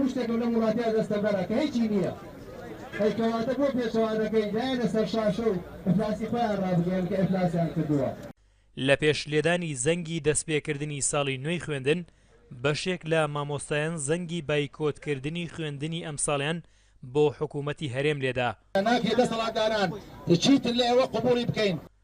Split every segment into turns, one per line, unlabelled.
هیچ شتێک و لەم وڵاتە دەستەبەرە کە هیچی نییە ئەی کەواتە بۆ پێچەوانەکەی دایەنە سەر شاشە و ئیفلاسی خۆیان ڕابگەیەن کە ئیفلاسیان کردووە. لە پێش
لێدانی زەنگی دەستپێکردنی ساڵی نوێی خوێندن، بەشێک لە مامۆستایان زەنگی بایکۆتکردنی خوێندنی ئەمساڵیان بۆ حکوومەتی هەرێم لێدا. ناکرێت دەسەڵاتداران
چیتر لە ئێوە قبووڵی بکەین.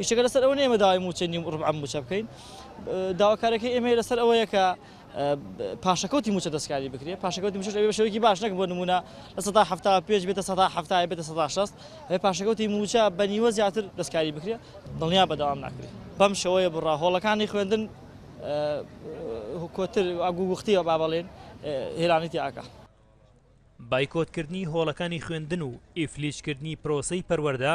ئیشەکە
لەسەر ئەوە نیە ئێمە داوای مووچەی نیو ڕوبعە مووچە بکەین، داواکاریەکەی ئێمە لەسەر ئەوەیە کە پاشەکەوتی مووچە دەستکاری بکرێت، پاشەکەوتی مووچەش ئەبێ بە شێوەیەکی باش نەک بۆ نموونە لە سەدا حەفتا و پێنج بێتە سەدا حەفتا یان بێتە سەدا شەست، ئەبێ پاشەکەوتی مووچە بە نیوە زیاتر دەستکاری بکرێت، دڵنیام بەردەوام ناکرێت. بەم شێوەیە بڕە هۆڵەکانی خوێندن کۆتر و گووگوختییە با بەڵێین هێرانی تیاکا.
بایکۆتکردنی هۆڵەکانی خوێندن و ئیفلیجکردنی پرۆسەی پەروەردە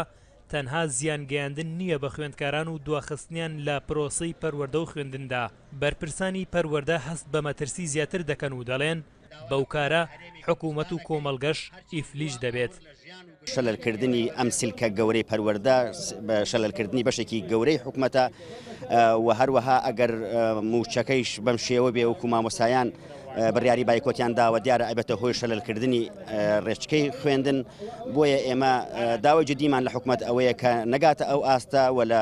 تەنها زیان گەیاندن نییە بە خوێندکاران و دواخستنیان لە پرۆسەی پەروەردە و خوێندندا، بەرپرسانی پەروەردە هەست بە مەترسی زیاتر دەکەن و دەڵێن، بەو کارە حکومەت و کۆمەڵگەش ئیفلیج دەبێت. شەلەلکردنی
ئەم سلکە گەورەی پەروەردە شەلەلکردنی بەشێکی گەورەی حکومەتە و هەروەها ئەگەر موچەکەیش بەم شێوە بێ وەکو مامۆسایان بڕیاری بایکۆتیان داوە دیارە ئەبێتە هۆی شەلەلکردنی ڕێچکەی خوێندن بۆیە ئێمە داوای جدیمان لە حکومەت ئەوەیە کە نەگاتە ئەو ئاستە و لە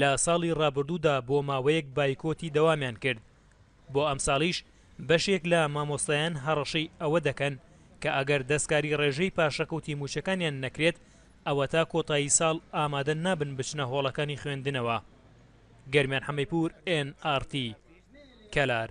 لە ساڵی ڕابردوودا بۆ ماوەیەک بایکۆتی دەوامیان کرد، بۆ ئەمساڵیش بەشێک لە مامۆستایان هەڕەشەی ئەوە دەکەن کە ئەگەر دەستکاری ڕێژەی پاشەکەوتی مووچەکانیان نەکرێت ئەوەتا کۆتایی ساڵ ئامادە نابن بچنە هۆڵەکانی خوێندنەوە. گەرمیان حەمەیپوور ئێن ئاڕ تی. کەلار.